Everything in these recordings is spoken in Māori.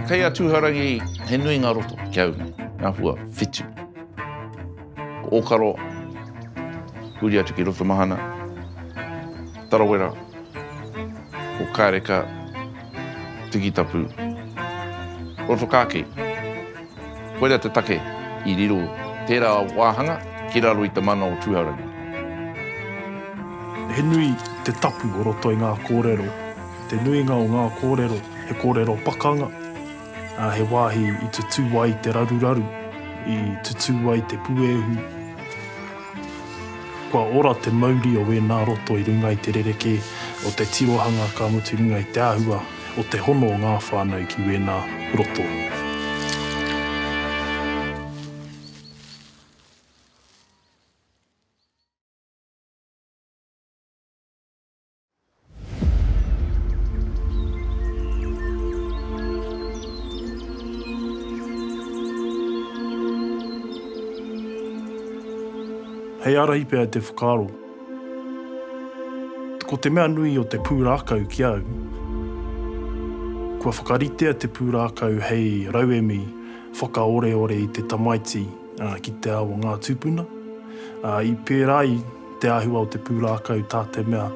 Kei a Tūhourangi he nui ngā roto ki a au nei, ngā hua whitu. Ko Ōkaro, huri atu ki Rotomahana, Tarawera, ko Kāreka, Tikitapu, Rotokāki. Koira te take i riro tērā wāhanga ki raro i te mana o Tūhourangi. He nui te tapu o roto i ngā kōrero. Te nuinga o ngā kōrero, he kōrero pakanga, ā, he wāhi i tutū ai te raruraru, i tutū ai te puehu. Kua ora te mauri o ēnā roto i runga i te rerekē o te tirohanga ka mutu i runga i te āhua. o te hono o ngā whānau ki wēnā roto. Hei ārahi pea te whakaaro. Ko te mea nui o te pūrākau ki au, kua whakaritea te pūrākau hei rauemi whakaoreore i te tamaiti ki te ao o ngā tūpuna. I pērā ai te āhua o te pūrākau tā te mea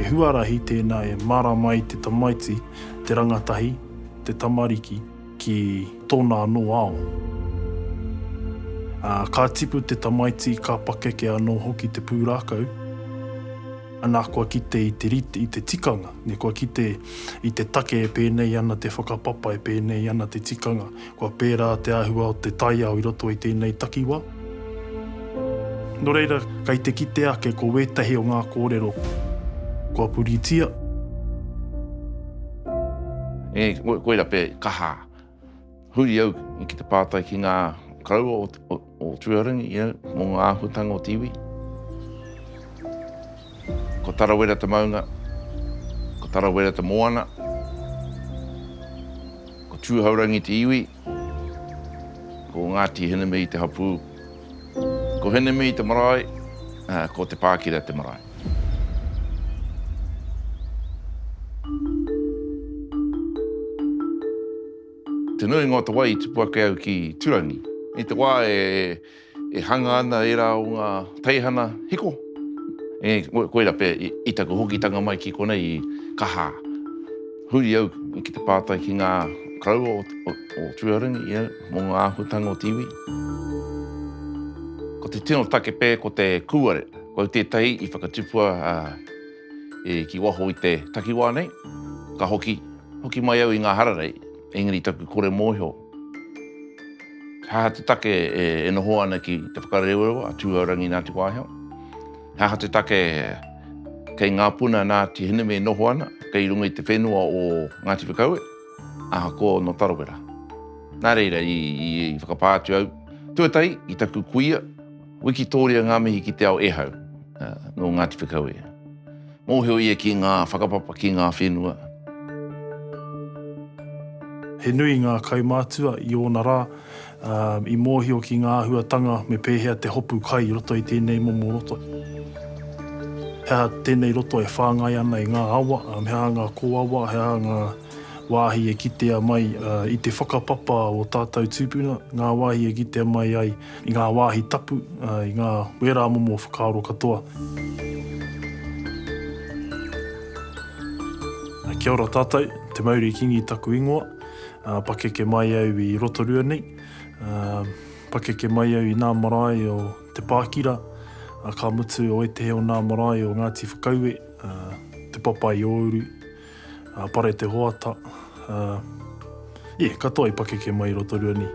he huarahi tēnā e mārama ai te tamaiti, te rangatahi, te tamariki. Ki tōna anō ao. Ā, ka tipu te tamaiti, ka pakeke anō hoki te pūrākau. Anā, kua kite i te rite, i te tikanga. Nē, kua kite i te take e pēnei ana te whakapapa, e pēnei ana te tikanga. Kua pērā te āhua o te taiao i roto i tēnei takiwā. Nō reira, kei te kite ake ko wētahi o ngā kōrero kua puritia. E, koira pea e kaha. Huri au ki te pātai ki ngā karaua o Tūrangi, you know, mō ngā āhuatanga o te iwi. Ko Tarawera te maunga, ko Tarawera te moana, ko Tūhourangi te iwi. Ko Ngāti Hinemei te hapū. Ko Hinemei te marae, ā, ko Te Pākira te marae. Te nuinga o te wai i tipu ake au ki Turangi. I te wā e. E hanga ana ērā o ngā teihana hiko, ē, koirā pea i taku hokitanga mai ki konei i Kaha. Huri au ki te pātai ki ngā koroua o Tūārangi, ē, mō ngā āhuatanga o te iwi. Ko te tino take pea ko te kūare, ko au tētahi i whakatupua ki waho i te takiwā nei, ka hoki, hoki mai au i ngā hararei, engari taku kore mōhio, He aha te take e noho ana ki te whakarewarewa a Tūhourangi Ngāti Wāhiao? He aha te take kei ngā puna a Ngāti Hineme e noho ana kei runga i te whenua o Ngāti Whakaue? Aha, ko nō Tarawera. Nā reira, i whakapā atu au tuatahi i taku kuia, Wikitoria ngā mihi ki te ao ehau nō Ngāti Whakaue. Mōhio ia ki ngā whakapapa ki ngā whenua. He nui ngā kaumātua i ōna rā i mōhio ki ngā āhuatanga me pēhea te hopu kai i roto i tēnei momo roto. He aha tēnei roto e whāngai ana i ngā awa, he aha ngā kōawa, he aha ngā wāhi e kitea mai i te whakapapa o tātou tūpuna, ngā wāhi e kitea mai ai I ngā wāhi tapu, i ngā wērā momo whakaaro katoa. Kia ora tātou, Te Mauri Kingi taku ingoa. Pakeke mai au i Rotorua nei. Pakeke mai au i nā marae o Te Pākira, ka mutu o ētehi o nā marae o Ngāti Whakaue, Te Papaiouru. a Pare te Hoata, a, yeah, katoa i pakeke mai i Rotorua ni.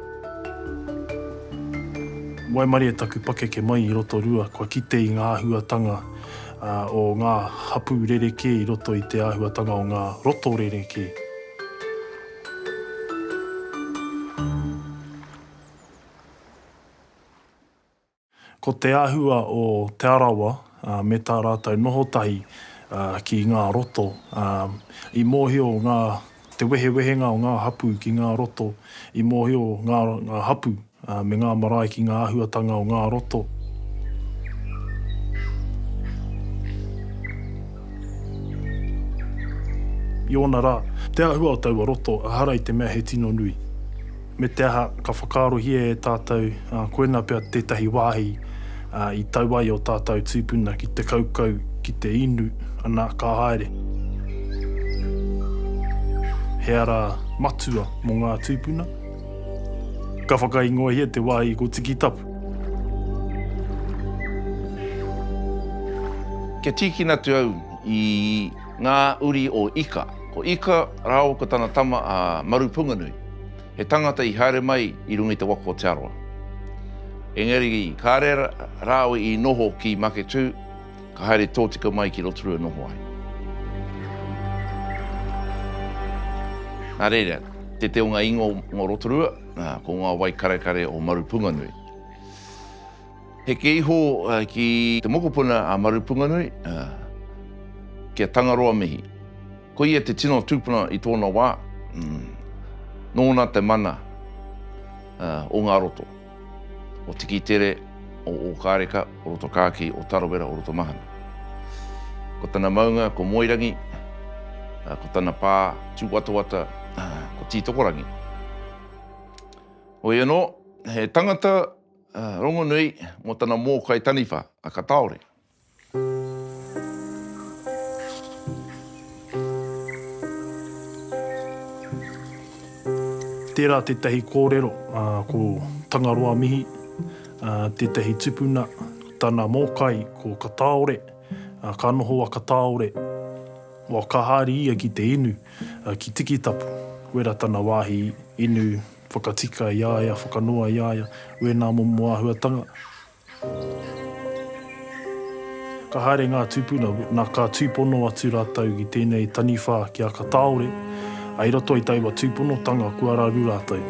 Waimarie taku pakeke mai i Rotorua, kua kite i nga ahuatanga a, o nga hapu rerekē i roto i te ahuatanga o nga roto rerekē. Ko te āhua o Te Arawa me tā rātou noho tahi ki ngā roto, i mōhio ngā te wehewehenga o ngā hapū ki ngā roto, i mōhio ngā ngā hapū me ngā marae ki ngā āhuatanga o ngā roto. I ōna rā, te āhua o taua roto, ehara i te mea he tino nui. Me te aha, ka whakaarohia e tātou koinā pea tētahi wāhi i tau ai ō tātou tīpuna ki te kaukau, ki te inu, anā, ka haere. He ara matua mō ngā tīpuna. Ka whakaingoahia te wāhi ko Tikitapu. Kia tīkina atu au i. Ngā uri o Ika. Ko Ika rāua ko tana tama a Marupunganui, he tangata i haere mai i runga i te waka o Te Arawa. Engari kāre rāua i noho ki Maketū, ka haere tōtika mai ki Rotorua e noho ai. Nā reira, tētehi o ngā ingoa mō Rotorua, ko ngā wai karekare o Marupunganui. Heke iho ki te mokopuna a Marupunganui, ki a Tangaroa mihi. Ko ia te tino tupuna i tōna wā, nōna te mana o ngā roto, o Tikitere, o Ōkāreka, o Rotokāki, o Tarawera, o Rotomahana. Ko tana maunga ko Moerangi, ko tana pā tūwatawata ko Tītokorangi. Hoi anō, he tangata, Rongonui mō tana mōkai taniwha a Kataore. Tērā tētahi kōrero ko Tangaroa Mihi, tētahi tipuna, tana mōkai ko Kataore. Ka noho a Kataore, ka haere ia ki te inu ki Tikitapu, wera tana wāhi inu Whakatika i a ia, whakanoa i a ia, wēnā momo āhuatanga. Ka haere ngā tūpuna, na ka tūpono atu rātou ki tēnei taniwha ki a Kataore, ā, i roto i taua tūponotanga kua raru rātou.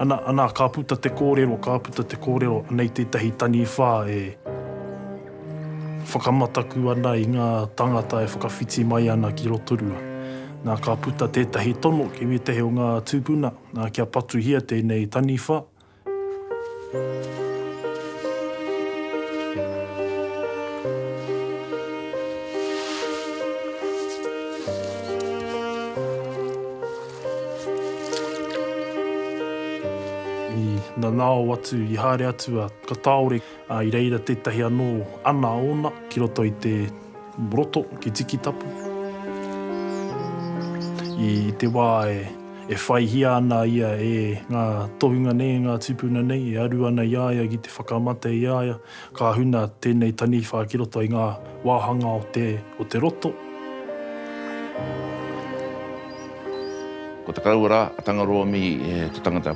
Ana, ana, ka puta te kōrero, ka puta te kōrero, anei tētahi taniwha e. Whakamataku ana i ngā tāngata e whakawhiti mai ana ki Rotorua. Nā, ka puta tētahi tono ki wētahi o ngā tūpuna, nā, kia patuhia tēnei taniwha. I nanao atu, i haere atu a Kataore. Ā, i reira tētahi anō ana ōna ki roto i te roto ki Tikitapu. I te wā e whaihia ana ia e ngā tohunga nei, e ngā tūpuna nei, e aru ana i a ia ki te whakamate i a ia, ka huna tēnei taniwha ki roto i ngā wāhanga o te, o te roto. Ko Te Karaua rā, a Tangaroa Mihi, te tangata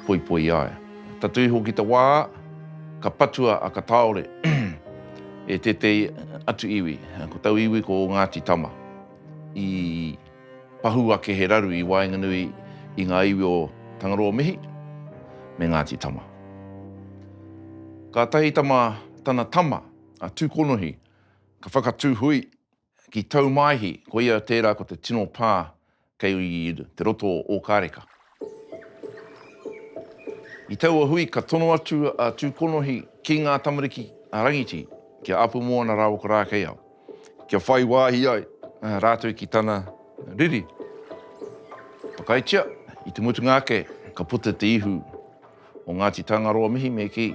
poipoi i a ia. Tatū iho ki te wā. Ka patua a Kataore e tētehi atu iwi, ko tau iwi ko Ngāti Tama, i pahū ake he raru i waenganui i ngā iwi o Tangaroa mihi me Ngāti Tama. Kātahi tama tana tama a Tūkonohi ka whakatū hui Ki Taumaihi, koia tērā ko te tino pā kei te roto o Ōkāreka. I taua hui ka tono atu a Tūkonohi ki ngā tamariki a Rangiti, ki a Apumoana rāua ko Rākeiao, kia whai wāhi ai rātou ki tana riri. Whakaaetia, i te mutunga ake ka puta te ihu. o Ngāti Tangaroa mihi me kī.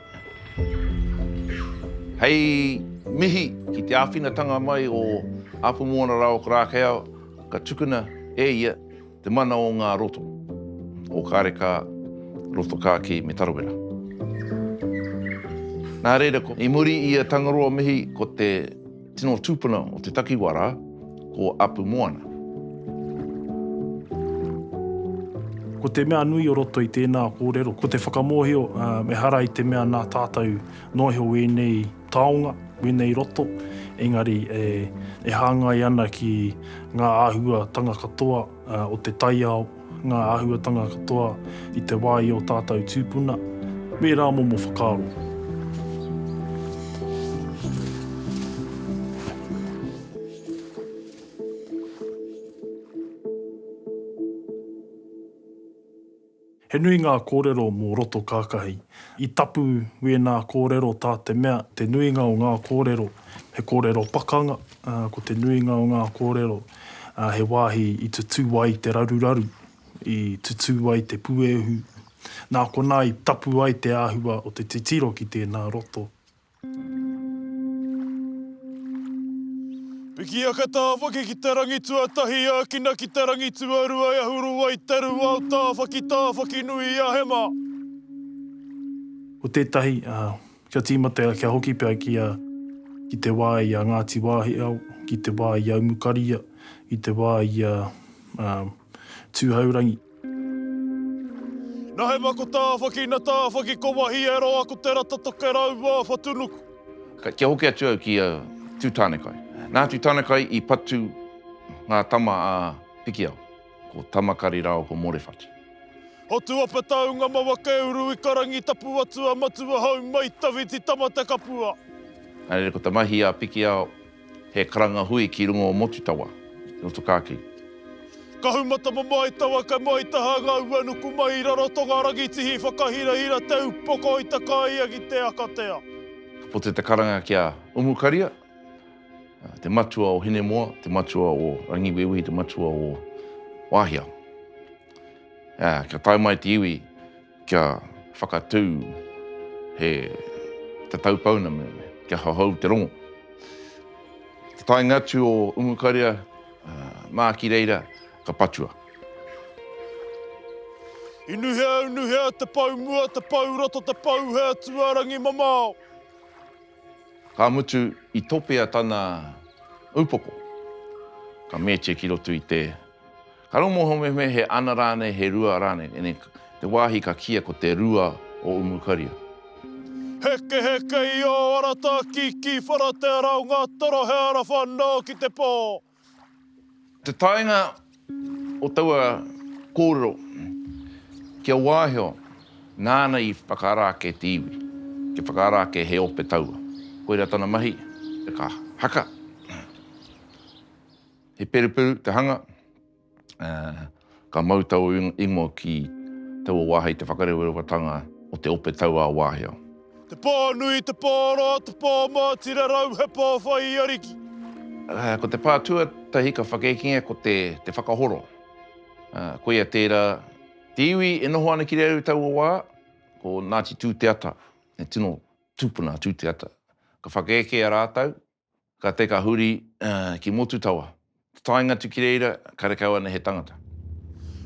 Hei mihi ki te āwhinatanga mai o Apumoana Raoak Rākeiao ka tukuna e ia te mana o ngā roto o Kārekā, Rotokākī me Tarawera. Nā reira, i muri i a Tangaroa mihi ko te. Tino tupuna o te takiwa ra, ko Apu Moana. Ko te mea nui o roto i tēnā kōrero, ko te whakamōhio ehara i te mea nā tātou noa iho wēnei taonga, wēnei roto, engari e hāngai ana ki ngā āhuatanga katoa. o te taiao, ngā āhuatanga katoa i te wā i ō tātou tūpuna, me ērā momo whakaaro. He nui ngā kōrero mō roto kākahi. I tapu wēnā kōrero tā te mea, te nuinga o ngā kōrero, he kōrero pakanga, ā, ko te nuinga o ngā kōrero, ā, he wāhi i tutū ai te raruraru, i tutū ai te puehu. Nā konā i tapu ai te āhua o te titiro ki tēnā roto. Pikiaka Tāwhaki ki te rangi tuatahi Ākina ki te rangi tuarua E ahu rua i te rū Ao Tāwhaki Tāwhaki nui i a Hema. Ko tētahi, ā, kia tīmatea, kia hoki pea ki a, ki te wā i a Ngāti Wāhiao, ki te wā i a Umukaria, ki te wā i a, ā, Tūhourangi. Nahe ma ko Tawhaki, na Tawhaki ko wahi e roa ko te rata toke raua a Whatunuku. Ka kia hoki atu au ki a Tutanekai. Nā Tutanekai i patu ngā tama a Pikiao, ko Tamakari rāua ko Morewhatu. Hotuapa taunga mawa ke uru i karangi tapu atu a Matua hau mai tawhiti tama te kapua. Nā reira ko ta mahi a Pikiao. He karanga hui ki runga o Motutawa, i roto ka ki. Kahumatama mai tawa ka mai taha nga ua nuku mai i Rarotonga Rangitihi whakahirahira te upoko i takaia ki te akatea. Ka puta te karanga ki a Umukaria, te matua o Hinemoa, te matua o Rangiwewehi, te matua o Wahia. Aa, kia tae mai te iwi. Kia whakatū he tatau pounamu, kia hohou te rongo. I te taenga atu o Umukaria mā ki reira ka patua. I nuhea au nuhea te pou mua, te pou roto, te pou he atu a rangi mamao. Ka mutu i topea tana upoko. Ka meetia ki roto i te. Ka rongohau mehemea he ana rānei, he rua rānei, ene te wāhi ka kīia ko te rua o Umukaria. Hekeheke i ō arata ki ki whara te ara o ngā toro he ara whanao ki te pō. Te taenga o taua kōrero ki a Waiheo nāna i whakaara ake te iwi, ki whakaara ake he ope taua. Koira tana mahi, ka haka. He peruperu te hanga, ā, ka mau taua ingoa ki taua wā hei te whakarewarewa-tanga o te ope tauā wāhia. Te pō nui, te pō oro, te pō mōtira rau, he pō whai i Ariki. Ko te pā tuatahi ka whakekingia ko te te whakahoro. Koia tērā, te iwi e noho ana ki reira i taua wā, ko Ngāti Tūteata, he tino tūpuna a Tūteata. Ka whakaekea rātou, Ka te ka huri ki Motutawa. Taenga tu ki reira, karekau ana he tangata.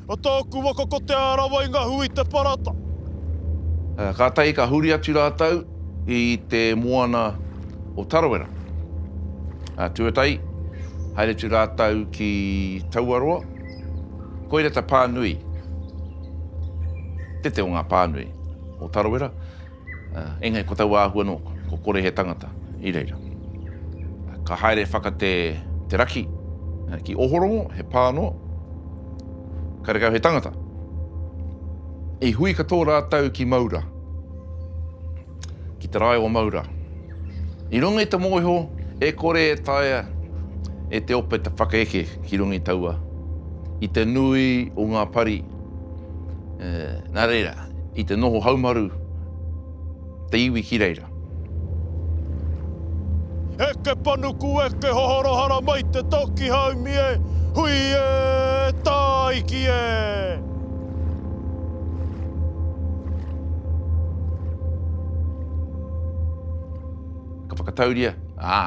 A taku waka ko Te Arawa i nga hui te parata. Katahi ka huri atu ratou i te moana o Tarawera. Tuatahi, haere tu ratou ki Tauaroa. Koira ta pa nui, tete o nga pa nui o Tarawera. Engari ko taua āhua nō, ko kore he tangata i reira. Ka haere whaka te raki ki Ohorongo, he pā nō, karekau he tangata. I hui katoa rātou ki Maura, ki te rae o Maura. I runga i te mōhio e kore e taea e te ope te whakaeke ki runga i taua, i te nui o ngā pari, nā reira. i te noho haumaru te iwi ki reira. Eke panuku eke hohoro haramai te toki haumi e, hui e, tāiki e! Ka whakatauria, ā,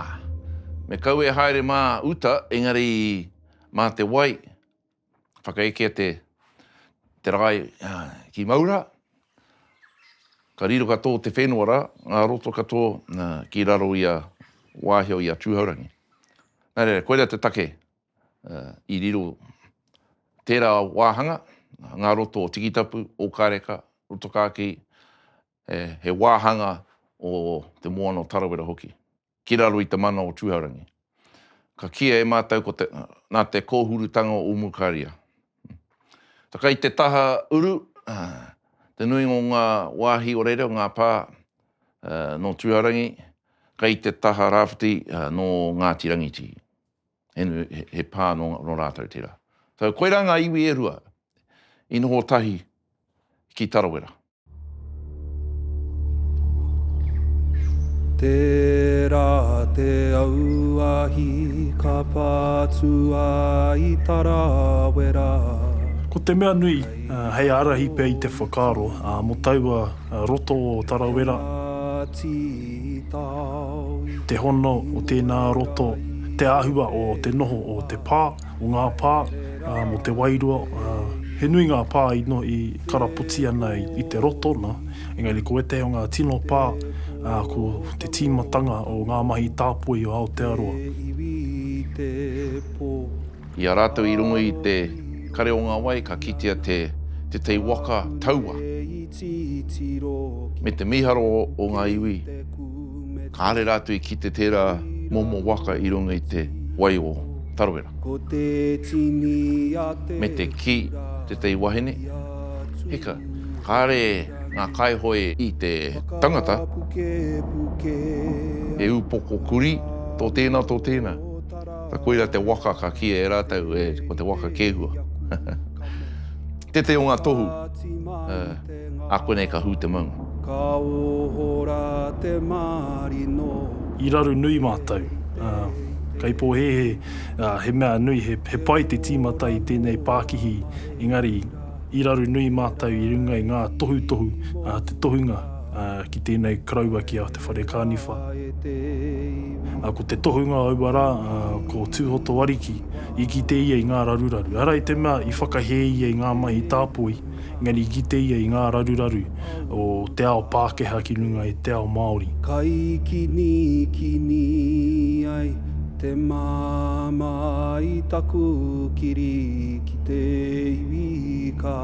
me kau e haere mā uta engari mā te wai whakaekea te te rae ki Maura, ka riro ka tō te whenua ra, ngā roto ka tō ki raro i a Wāhio i a Tūhourangi. Na reira, koira te take i riro tērā wāhanga, ngā roto o Tikitapu, Ōkareka, Rotokākī, he wāhanga o te moana o Tarawera hoki. ki raro i te mana o Tūhourangi. Ka kīia e mātou ko te, nā te kōhurutanga o Umukaria. Tā kai te taha uru, te nuinga o ngā wāhi o reira, o ngā pā nō Tūhourangi, kai te taha rāwhiti nō Ngāti Rangitī. he pā nō rātou tērā. So, koirā ngā iwi e rua i noho tahi ki Tarawera. Tērā te auahi ka patua i Tarawera. Ko te mea nui, hei ārahi pea i te whakaaro, mō taua roto o Tarawera. te hono o tēnā roto, te āhua o te noho o te pā, o ngā pā, mō te wairua, he nui ngā pā i karapoti ana i te roto nā, engari ko ētahi o ngā tino pā, ko te tīmatanga o ngā mahi tāpoi o Aotearoa. I a rātou i runga i te kare o ngā wai ka kitea te tei waka taua. me te mīharo o ngā iwi, kāre rātou i kite tērā momo waka i runga i te wai o Tarawera. Me te kī tētahi wahine, Hika, kāre ngā kaihoe i te tangata he upoko kurī tō tēnā, tō tēnā, koirā te waka ka kīia e rātou ko te waka kēhua. Tete o nga tohu, eh, a koinei ka hu te maunga. Ka oho ra te marino. I raru nui mātou. Kei pōhēhē, he mea nui, he pai te tīmata i tēnei pākihi, engari i raru nui mātou i runga i ngā tohutohu, te tohunga ki tēnei koroua ki a Te Whare Kāniwha. Ko te tohunga o aua rā, ko Tūhoto Ariki, I kite ia i ngā raruraru, ara i te mea i whakahē ia i ngā mahi tāpoi, engari i kite ia i ngā raruraru o te ao Pākehā ki runga i te ao Māori. Ka ikinikini ai te māmā i taku kiri ki te iwi ka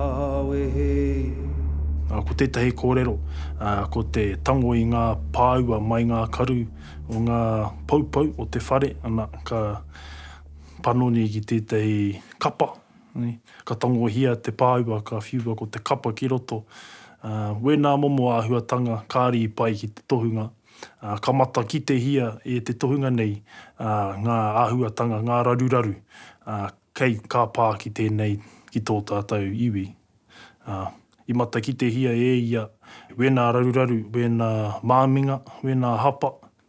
wehe. Ā, ko tētahi kōrero, ā, ko te tango i ngā pāua mai ngā karu o ngā poupou o te whare, ana, ka. panoni ki tētahi kapa, ka tangohia te pāua, ka whiua ko te kapa ki roto. Wēnā momo āhuatanga kāri i pai ki te tohunga, ka matakitehia e te tohunga nei ngā āhuatanga, ngā raruraru kei, ka pā ki tēnei, ki tō tātou iwi. I matakitehia e ia wēnā raruraru, wēnā māminga, wēnā hapa,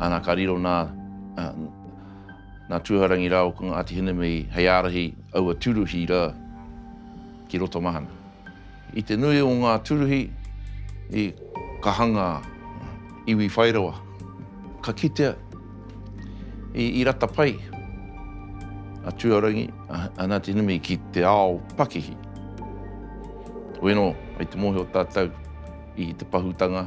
Ana ka riro nā nā Tūhourangi rāua ko Ngāti Hinemei hei ārahi aua tūruhi rā ki Rotomahana. I te nui o ngā tūruhi i ka hanga iwi whairawa ka kitea i rata pai a Tūhourangi a Ngāti Hinemei ki te ao pakihi. Weno, i te mōhio tātou i te pahūtanga.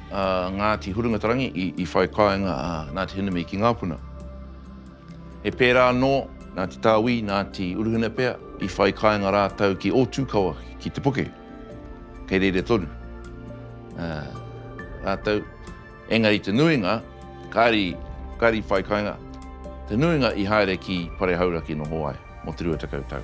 a Ngāti Hurungatarangi i whai kāinga a Ngāti Hinamī ki ngā puna. He pērā anō, Ngāti Tāwī, Ngāti Uruhina pea, i whai kāinga rātou ki Ōtūkawa, ki Te Puke. Kei reira tonu rātou, engari te nuinga, kāri, kāri whai kāinga, te nuinga i haere ki Parehauraki noho ai, mō te 20 tau.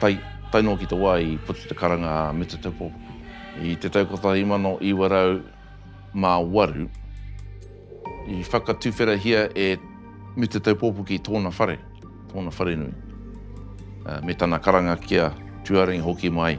Tae, tae noa ki te wā i puta te karanga a Mita Te Pōpoki. I te tau 1908, i whakatuwherahia e Mita Te Pōpoki tōna whare, tōna wharenui, me tana karanga ki a Tūārangi hoki mai.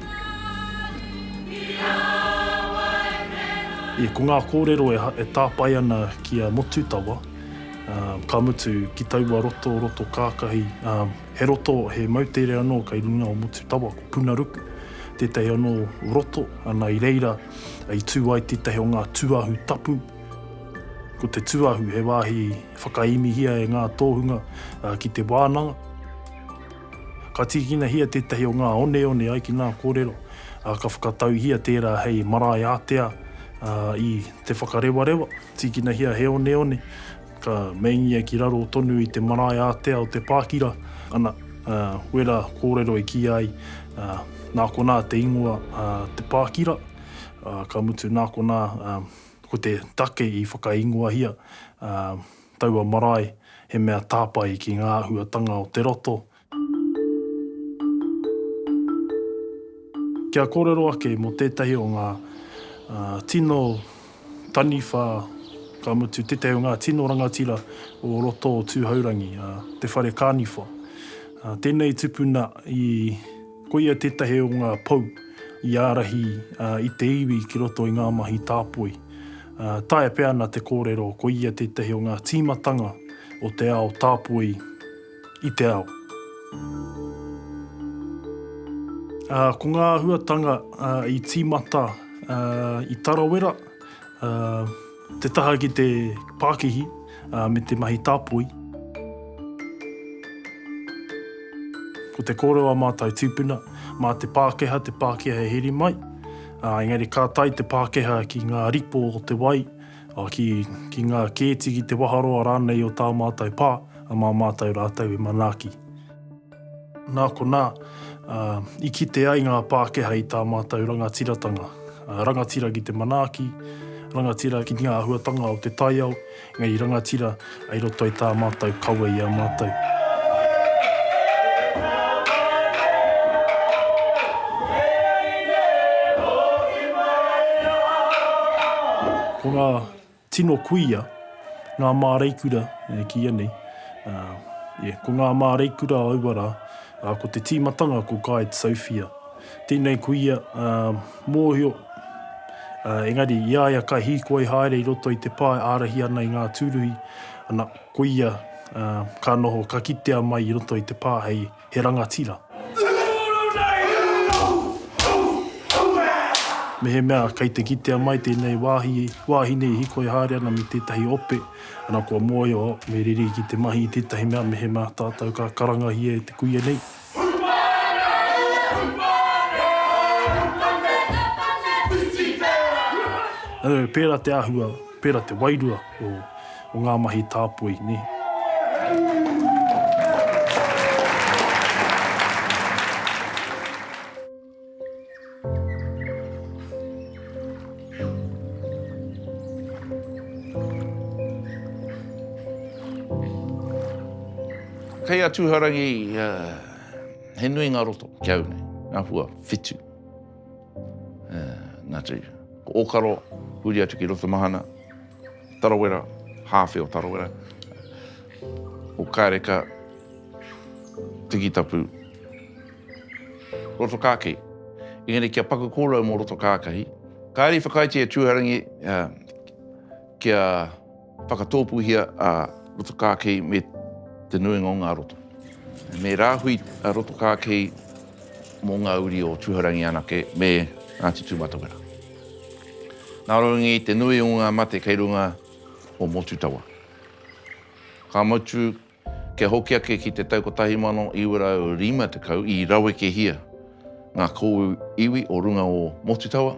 Ia ko ngā kōrero e tāpae ana ki a Motutawa, ka mutu ki taua roto, roto kākahi, he roto, he moutere anō kei runga o Motutawa, ko Punaruku, tētahi anō roto, ana i reira i tū ai tētahi o ngā tūahu tapu. Ko te tūahu he wāhi whakaemihia e ngā tōhunga ki te wānanga. Ka tīkinahia tētahi o ngā oneone ai ki ngā kōrero, ā, ka whakatauhia tērā hei marae ātea, ā, i Te Whakarewarewa, tīkinahia he oneone, ka meingia ki raro tonu i te marae ātea o Te Pākira, ana, ā, wera kōrero e kīia ai, ā, nā konā te ingoa, ā, Te Pākira, ā, ka mutu nā konā, ā, ko te take i whakaingoahia, ā, Taua marae, he mea tāpae ki ngā āhuatanga o te roto. Kia kōrero ake mō tētahi o ngā tino taniwha, ka mutu, tētahi o ngā tino rangatira o roto o Tūhourangi, te whare kāniwha. Tēnei tupuna i. Koia tētahi o ngā pou i ārahi i te iwi ki roto i ngā mahi tāpoi. Taea pea ana te kōrero koia tētahi o ngā tīmatanga o te ao tāpoi i te ao. Ko ngā āhuatanga i tīmata i Tarawera. Te taha ki te pākihi me te mahi tāpoi. Ko te kōrero a mātou tūpuna, mā te Pākehā te Pākehā e heri mai, engari ka tae te Pākehā ki ngā ripo o te wai, ki ngā kēti, ki te waharoa rānei o tā mātou pā, mā mātou rātou e manaaki. Nā konā, i kite ai ngā Pākehā i tā mātou rangatiratanga, rangatira ki te manaaki, rangatira ki ngā āhuatanga o te taiao, engari rangatira i roto i tā mātou kawe i a mātou. Ko ngā Tino kuia ngā māreikura e kīia nei, yeah, ko ngā māreikura aua rā, ā, ko te tīmatanga ko Guide Sophia. Tēnei kuia, ā, mōhio, ā, engari i a ia ka hīkoi haere i roto i te pae ārahi ana i ngā tūruhi, ana, ko ia, ā, ka noho, ka kitea mai i roto i te pā hei He rangatira. Mehemea kei te kitea mai tēnei wāhi, wāhine i hikoi haere ana me tētahi ope, ana kua mōhio me riri ki te mahi i tētahi mea mehemea tātou ka karangahia e te kuia nei. Pērā te āhua, pērā te wairua o o ngā mahi tāpoi, nē. Kei a Tūhourangi, he nui ngā roto ki au nei, ngā hua whitu. Nā te ōkaro, huri atu ki Rotomahana, Tarawera, hāwhe o Tarawera, o Kāreka, Tikitapu, Rotokākahi. Engari kia paku kōrau mō Rotokākahi, kāre i whakaaetia e Tūharangi kia... Whakatōpūhia a Rotokākei me te nuinga o ngā roto. Me rāhui a Rotokākei mō ngā uri o Tūhourangi anake me Ngāti Tūmatawera. Nā runga i te nui o ngā mate kei runga o Motutawa, ka mutu Kia hoki ake ki te tau 1950 i rawekehia ngā kōu iwi o runga o Motutawa,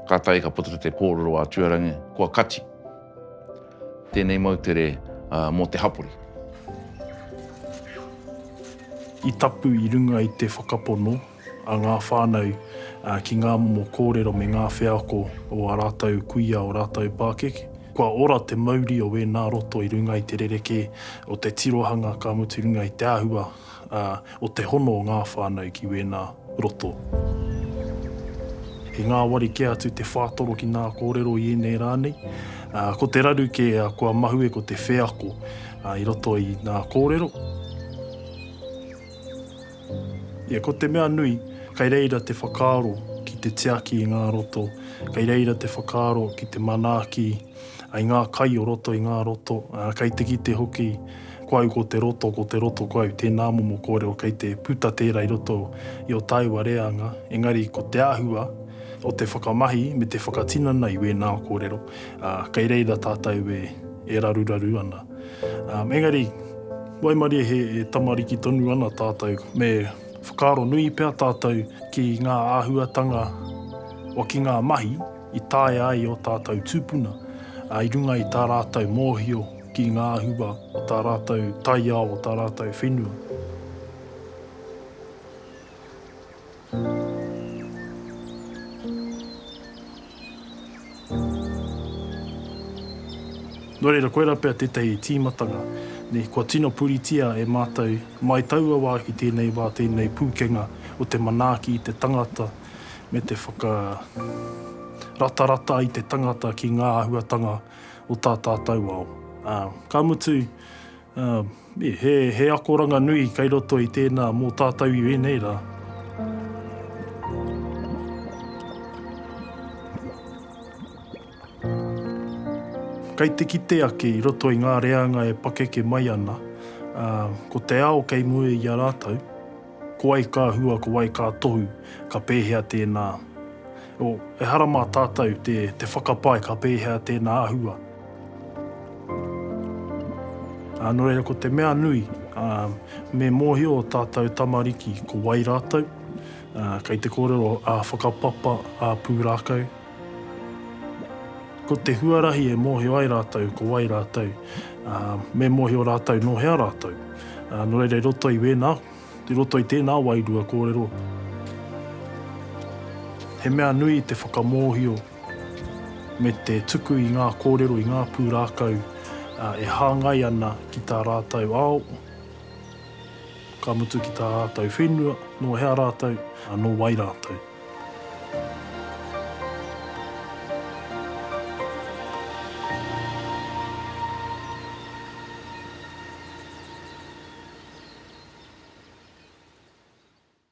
kātahi ka puta te kōrero a Tuarangi, kua kati tēnei moutere mō te hapori. I tapu i runga i te whakapono a ngā whānau ki ngā momo kōrero me ngā wheako o ā rātou kuia, o rātou pākeke. Kua ora te mauri o wēnā roto i runga i te rerekē o te tirohanga ka mutu runga i te āhua o te hono o ngā whānau ki wēnā roto. He ngāwari kē atu te whātoro ki ngā kōrero i ēnei rā nei. Ko te raru kē kua mahue ko te wheako i roto i ngā kōrero. Ia ko te mea nui, kei reira te whakaaro ki te tiaki i ngā roto, kei reira te whakaaro ki te manaaki ai ngā kai o roto i ngā roto, ā, kei te kite hoki, ko au ko te roto, ko te roto ko au, tēnā momo kōrero kei te puta tērā i roto i ō tāua reanga, engari ko te āhua o te whakamahi me te whakatinana i wēnā kōrero, ā, kei reira tātou e raruraru ana. Engari, waimarie he tamariki tonu ana tātou, me whakaaro nui pea tātou ki ngā āhuatanga o ki ngā mahi i taea ai ō tātou tūpuna i runga i tā rātou mōhio ki ngā hua o tā rātou taiao, o tā rātou whenua. Nō reira, koirā pea tētahi tīmatanga nei kua tino puritia e mātou, mai taua wā ki tēnei wā, tēnei pūkenga o te manaaki i te tangata me te whakaratarata i te tangata ki ngā āhuatanga o tā tātou ao. Ā, ka mutu, Ā, e, he, he akoranga nui kei roto i tēnā mō tātou i ēnei rā. Kei te kite ake i roto i ngā reanga e pakeke mai ana, ā, ko te ao kei mua i a rātou. Ko wai ka hua, ko wai ka tohu, ka pēhea tēnā? Oh, ehara mā tātou te, te whakapae ka pēhea tēnā ahua. Ā, nō reira, ko te mea nui, ā, me mōhio ō tātou tamariki ko wai rātou, ā, kei te kōrero ā-whakapapa, ā-pūrākau, Ko te huarahi e mōhio ai rātou ko wai rātou, ā, me mōhio rātou nō hea rātou. Ā, nō reira i roto i wēnā, i roto i tēnā wairua kōrero, he mea nui te whakamōhio me te tuku i ngā kōrero, i ngā pūrākau, ā, e hāngai ana ki tā rātou ao, Ka mutu ki tā rātou whenua, nō hea rātou, ā, nō wai rātou.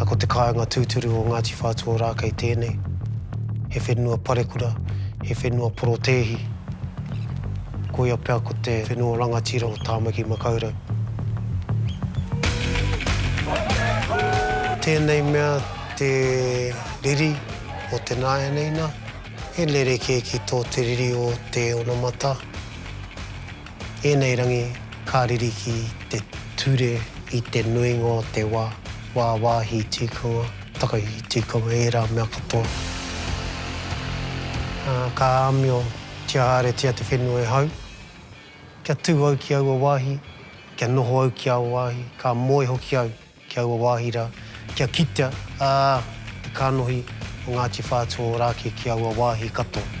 A ko te kāinga tūturu o Ngāti Whātua Ōrākei tēnei, he whenua parekura, he whenua porotēhi. Koia pea ko te whenua rangatira o Tāmaki Makaurau. Tēnei mea te riri o te nāianeina, he rerekē ki tō te riri o te onamata. Ēnei rangi ka riri ki te ture i te nuinga o te wā, wāwāhi tikanga, takahi tikanga, ērā mea katoa. Ā, ka āmiotia haeretia te whenua e hau. Kia tū au ki aua wāhi, kia noho au ki aua wāhi, ka moe hoki au. ki aua wāhi rā, kia kitea, ā, te kānohi o Ngāti Whātua Ōrākei ki aua wāhi katoa.